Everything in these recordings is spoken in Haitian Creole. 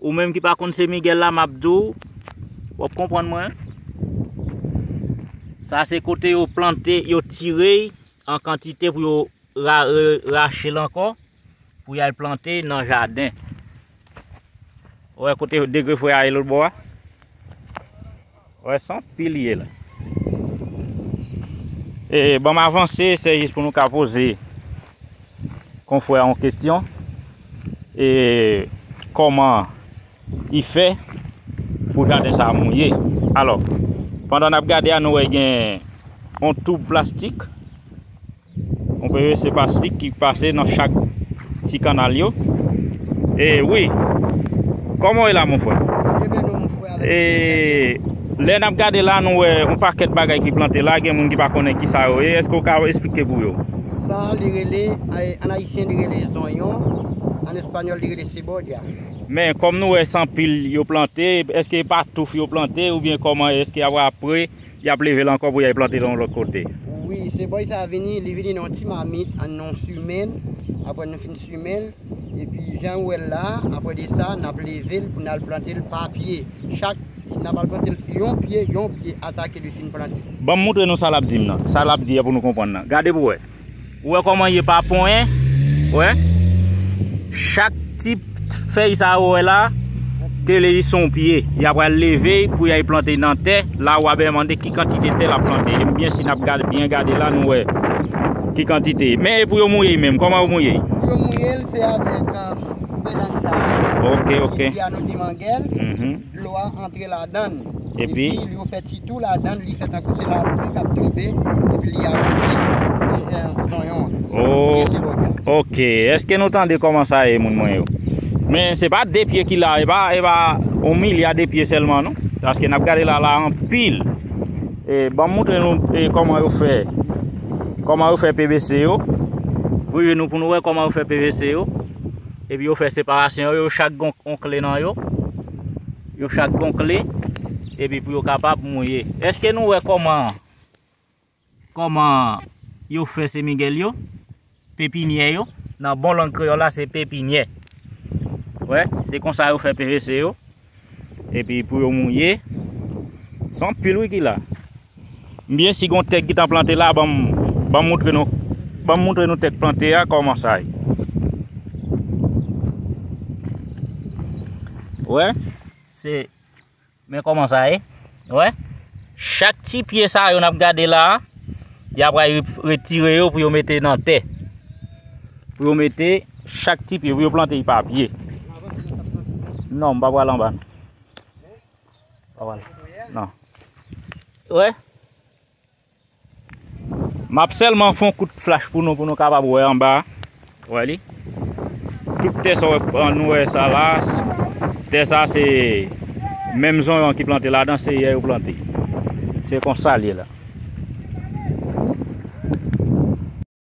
Ou menm ki pa konn se Miguel la map di w, wap konprann mwen. Sa se kote yo plante, yo tire an kantite pou yo rache l ankò pou y al plante nan jaden. Ou wè kote degre fwe a ye lotbo a? Wè son pil ye la. E banm avanse se jis pou nou ka poze konfrè yon kestyon. E koman i fè pou jaden sa mouye. Alò, pandan nap gade a nou wè gen yon toub plastik. On PVC plastik ki pase nan chak ti kanal yo. E wi. Koman e la mon fwe? E lè nap gade la nou e on paket bagay ki plante la gen moun ki pa konen ki sa yo e. Eske ou ka esplike pou yo? Sa li rele, an ayisyen li rele zonyon, an espanyol li rele seboja. Men kom nou e san pil yo plante, eske pa touf yo plante ou byen koman e? Eske apre? Yap level ankò pou yay plantel yon lòt kote. Wi se boy sa vini li vini nan yon ti mamit an nou simenl aprè nou fin simenl epi janw wèl la aprè de sa nap level pou nal plantel pa pye chak nap al plantel yon pye yon pye atake li fin plante. Banm moutre nou sa lap dim nan sa lap di a pou nou konprann nan gade pou wè. Ou wè kòman ye pa ponyen, wè. Chak ti fèy sa ou wè la, ke li se yon pye, ya pral leve pou ya plante nan tè, la ou wap mande ki kantite tè lap plante. E byen si nap gade byen gade la nou wè ki kantite. Men e pou yo mouye menm, kòman yo mouye? Pou yo mouye, se avèk bèdann sa. Ok, ok. Ki fè ya nou di mangèl. Dlo a antre ladann epi yo fè ti tou ladann li fè tankou se lapli kap tonbe epi li awoze zonyon an. Ohh ok eske nou tande koman sa ye moun mwen yo. Men se pa 2 pye ki la e pa e pa yon milya de pye selman non. Paske nap gade la la anpil. E banm moutre nou e koman yo fè koman yo fè pvc yo. Voye nou pou nou wè koman yo fè pvc yo. Epi yo fè separasyon yo, yo chak gen yon kle nan yo. Yo chak gen yon kle, epi pou yo kapab mouye. Eske nou wè kòman, kòman yo fè semigèl yo, pepinyè yo? Nan bon lang kreyòl la se pepinyè. Wè, se konsa yo fè PVC yo. Epi pou yo mouye. Son pil wi ki la. Mbyen si gon tèk ki tan plante la banm banm moutre nou banm moutre nou tèk plante ya kòman sa ye. Wè se men kòman sa ye. Wè, chak ti pye sa yo nap gade la, ya pral retire yo pou yo mete nan tè. Pou yo mete chak ti pye, pou yo plante y pa pye. Non, m pa pral anba. Pa pral. Non. Wè. Map sèlman fon kout flach pou nou pou nou kapab wè anba a. Wè li. Tout tè sa nou wè sa la, tè sa se menm zonyon ki plante ladan se yè yo plante. Se konsa li ye la.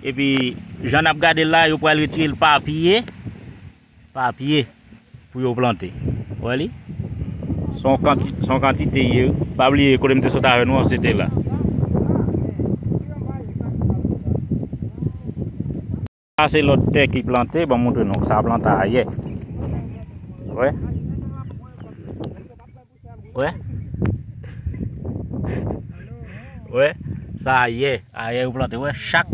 Epi jan nap gade l la yo pral retire l pa pye pa pye pou yo plante ou wè li son kantite son kantite li ye wi pa bliye kote m te sot avè nou an se te la sa se lòt tè ki plante banm montre nou sa plante ayè wè. Wè Wè Sa a yè A yè yo plante Wè chak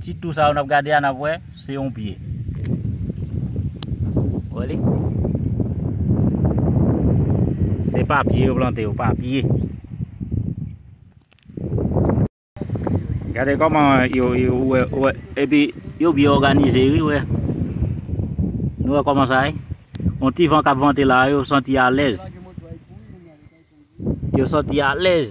Ti tou sa yo nap gade a nap wè Se yon pye Wè li Se papye yo plante yo Papye Gade koman yo epi yo byen òganize wi wè. Nou wè koman sa ye? On ti van kap vante la yo santi alèz. Yo santi alèz.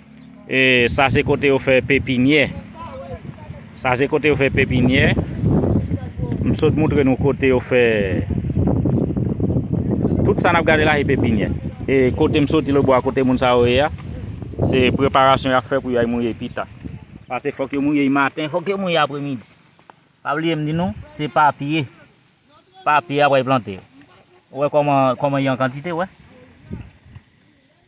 E sa se kote yo fè pepinyè. Sa se kote yo fè pepinyè. M sot moutre nou kote yo fè. Tout sa n ap gade la se pepinyè. E kote m soti lobou a kote moun sa yo ye a. Se preparasyon y ap fè pou y al mouye pita. Pase fòk yo mouye maten, fòk yo mouye apre midi. Pa bliye m di nou, se pa pye. Pa pye apre y plante. Ou wè kòman y an kantite ou wè.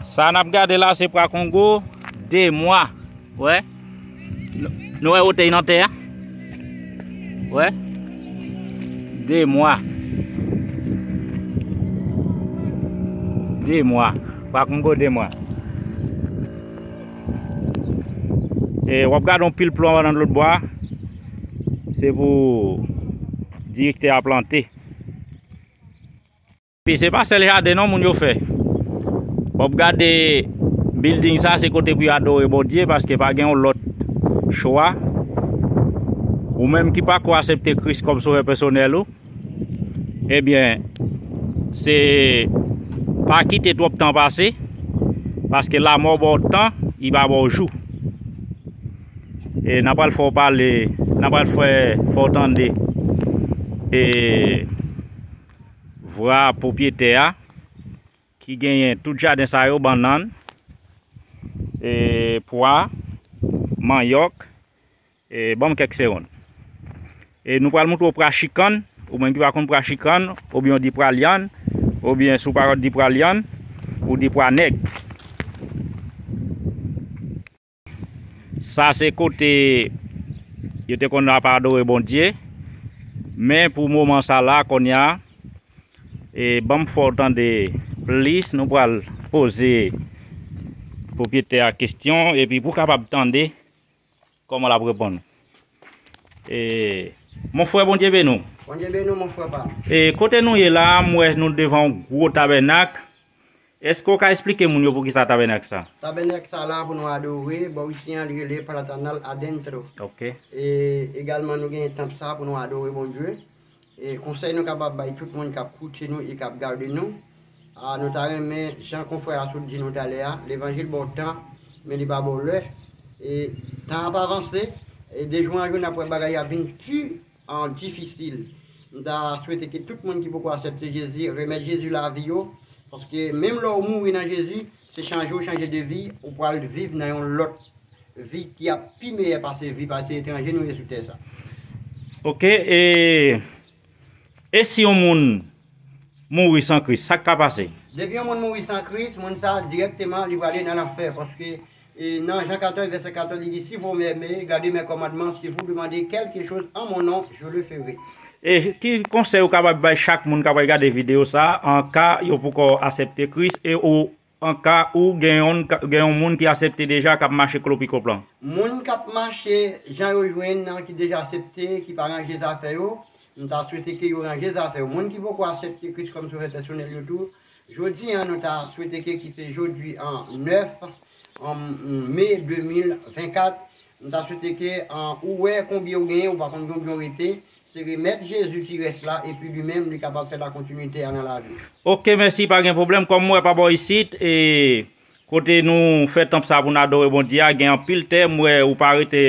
Sa nap gade la se pra kongo 2 mwa wè nou wè otey nan tè a wè 2 mwa 2 mwa pra kongo 2 mwa e wap gade yon pil plon nan lòt bwa se pou direktè a plante Epi se pa sèl jaden non moun yo fè. Wap gade building sa se kote pou yo adore Bondye paske pa gen yon lòt chwa. Ou menm ki pa ko asepte Kris kòm sovè pèsonèl ou, ebyen eh se pa kite twòp tan pase paske lamò baw tan, li pa baw jou. E nan pral fè w pale, nan pral fè fè w tande e eh, vra pwopyetè a ki genyen tout jaden sa yo bannann e pwa manyòk e banm kèk segonn e nou pral moutre w pra chikann ou menm ki pa konn pra chikann oubyen ou di pra lyann oubyen sou pa konn di pra lyann ou di pra nèg Sa se kote yo te konn ap adore Bondye. Men pou moman sa la konya e banm fè w tande plis nou pral poze pwopriyetè a kesyon epi pou kapab tande kòman l ap reponn. E mon frè Bondye beni w. Bondye beni w mon frè pa m. E kote nou ye la m wè nou devan yon gwo tabènak Eske w ka esplike moun yo poukisa tabènak sa? Tabènak sa la pou nou adore, bò isi an li rele Platanal Adentro. Ok. E egalman nou genyen tanp sa pou nou adore Bondye. E konsèy nou kapab bay tout moun kap koute nou e kap gade nou, a nou ta renmen jan konfrè a sot di nou talè a, levanjil ba w tan men li pa ba w lè. E tan ap avanse, e de jou an jou nap wè bagay yo ap vin pi an difisil. M ta swete ke tout moun ki poko asèpte Jezi remèt Jezi lavi yo, paske menm lè ou mouri nan Jezi, se chanje ou chanje de vi, ou pral viv nan yon lòt vi ki ap pi meyè pase vi pase etranje nou ye sou tè sa. Ok e e si yon moun mouri san Kris sak ka pase? Depi yon moun mouri san Kris, moun sa dirèkteman li prale nan lanfè paske E nan Jan 14 vèsè 14 li di, si vou mème, gade mè kòmandman, si vou demande kèlke choz an mon non, je le fere. E ki konsèy ou kapab bay chak moun k apral gade videyo sa a an ka yo poukò asèpte Kris e ou an ka ou gen yonn gen yon moun ki asèpte deja k ap mache klopikop lan? Moun k ap mache jan yo jwenn nan ki deja asèpte ki pa ranje zafè yo, m ta swete ke yo ranje zafè yo. Moun ki poko asèpte Kris kòm Sovè pèsonèl yo tou, Jodi an nou ta swete ke ki se jodi an 9 Me 2024, nou ta swete ke ou wè konbyen ou genyen, ou pa konn konbyen ou rete, se remèt Jezi ki rès la epi li menm li kapab fè la kontinite a nan laviw. Ok mèsi pa gen pwoblèm kòm m wè pa bò isit e kote nou fè tanp sa pou n adore Bondye a gen anpil tè m wè ou pa rete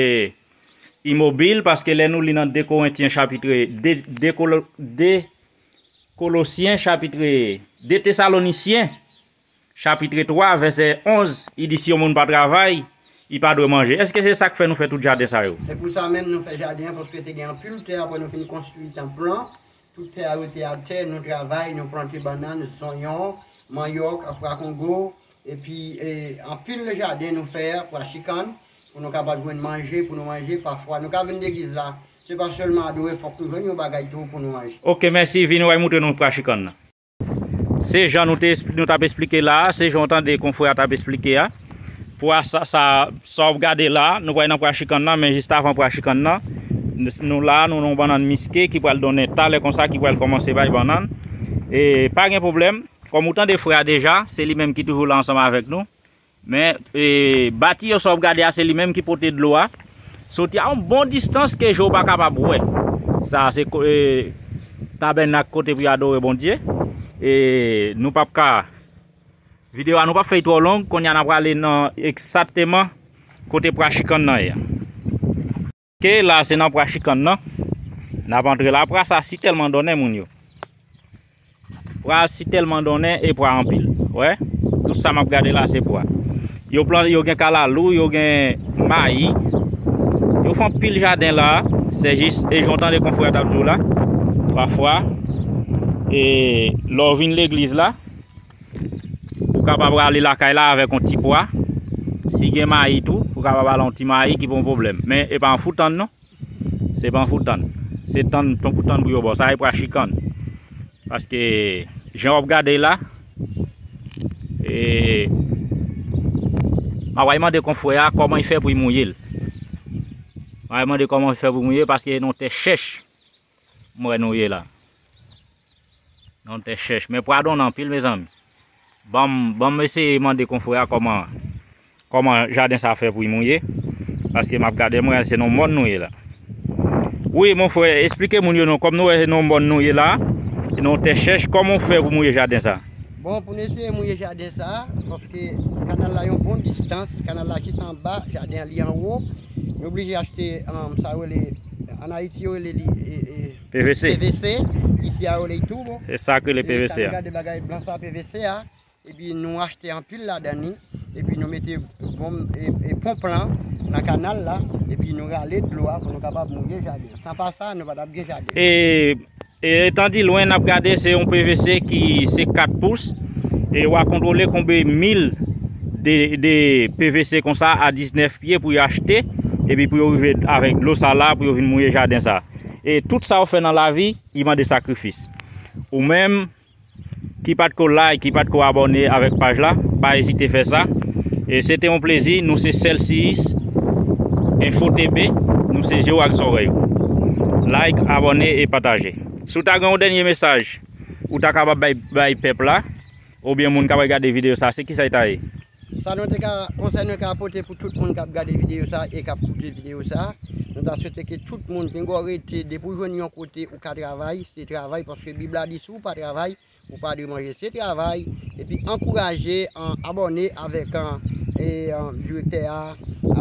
imobil paske lè nou li nan 2 korentyen chapitre 2 de Kolosyen chapitre 2 Tesalonisyen chapitre 3 vèsè 11 I di si yon moun pa travay, li pa dwe manje. Èske se sa k fè nou fè tout jaden sa yo? Se pou sa menm nou fè jaden an paske te gen anpil tè apre nou fin konstwi tanp lan. Tout tè a rete atè, nou travay, nou plante bannann, zonyon, manyòk, prakongo, epi anpil jaden nou fè, pwa chikann, Pou nou kapab jwenn manje pou nou manje pafwa nou ka vin legliz la se pa selman adore fok nou jwenn yon bagay tou pou nou manje. Ok mèsi vini wè moutre nou pra chikan nan. Se jan nou te nou tap esplike la a, se jan w tande konfrè a tap esplike a. Pra sa sa sa wap gade la a, nou pral nan pra chikan nan men jistavan pra chikan nan nou la a nou nan yon bannann miske ki pral donnen talè konsa ki pral kòmanse bay bannann e pa gen pwoblèm kòm ou tande frè a deja se li menm ki toujou la ansanm avèk nou Men bati yo sa wap gade a se li menm ki pote dlo a soti a yon bon distans ke je w pa kapab wè. Sa a se tabènak kote pou yo adore Bondye. E nou pap ka videyo a nou pap fè li twò long. Konnya n a prale nan ekzatteman kote prachikan nan ye. Ok la se nan pra chikann nan Nap antre la pra sa si tèlman donnen moun yo Pra si tèlman donnen e pra anpil Wè tout sa map gade la se pra Yo plan yo gen kalalou yo gen mayi Yo fon pil jaden la Se jis e jan w tande konfrè tap di w la Pafwa e lè w vin legliz la Ou kapab rale lakay la avèk yon ti pwa. Si gen mayi tou, ou kapab ale yon ti mayi ki pa yon pwoblèm. Men, e pa yon fout tann non. Se pa yon fout tann. Se tann, tann pou tann pou yo ba w. Sa e pwa chikann. Paske, jan w ap gade l la, e, mwen va mande konfrè a kòman li fè pou li mouye l. Mwen va mande kòman li fè pou li mouye l paske se yon tè chèch. M wè nou ye la. Yon tè chèch. Men pwa donn anpil mezanmi. Banm banm eseye mande konfrè a kòman kòman jaden sa fè pou li mouye. Paske map gade m wè se nan yon mòn nou ye la. Wi mon frè, esplike moun yo non. Kòm nou wè se nan yon mòn nou ye la. Se nan yon tè chèch. Kòman ou fè pou mouye jaden sa? Bon pou nou eseye mouye jaden sa, paske kanal la yon bon distans. Kanal la jis anba, jaden an li anwo. Nou oblije achte sa yo rele, an Ayiti yo rele li pvc, isi yo rele li turbo. E sa ki rele pvc a? Sa nou gade bagay blan sa pvc a, epi nou achte anpil ladan li, epi nou mete gom e ponp lan nan kanal la, epi nou rale dlo a pou nou kapab mouye jaden. San pa sa, nou pa tap gen jaden. E E etan di lwen nap gade se yon pvc ki se 4 pous e wa kontrole konbe mil de pvc konsa a 19 pye pou yo achte e pi pou yo rive avèk dlo sa la pou yo vin mouye jaden sa. E tout sa ou fè nan lavi li mande sakrifis. Ou menm. ki pat ko like ki pat ko abòne avèk paj la pa ezite fè sa e se te yon plezi nou se selsiyis info tb nou se je w ak zòrèy ou like abòne e pataje si w ta gen yon dènye mesaj ou ta kapab bay pèp la oubyen moun kap gade videyo sa se kisa l ta ye Sa nou te ka, konsèy nou ka pote pou tout moun kap gade videyo sa e kap koute videyo sa, nou ta swete ke tout moun pingo rete depi ou jwenn yon kote ou ka travay, se travay paske bib la di si ou pa travay ou pa dwe manje se travay epi ankouraje abòne avèk direktè a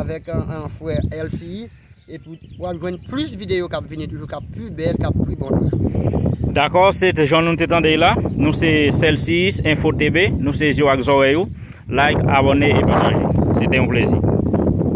avèk frè Elfis. Epi w ap jwenn plis videyo k ap vini toujou, k ap pi bèl, k ap pi bon toujou. Dakò, se te jan nou te tande y la. Nou se Celcius Info TB. Nou se je w ak zòrèy ou. Like, abòne e pataje. Se te yon plezi.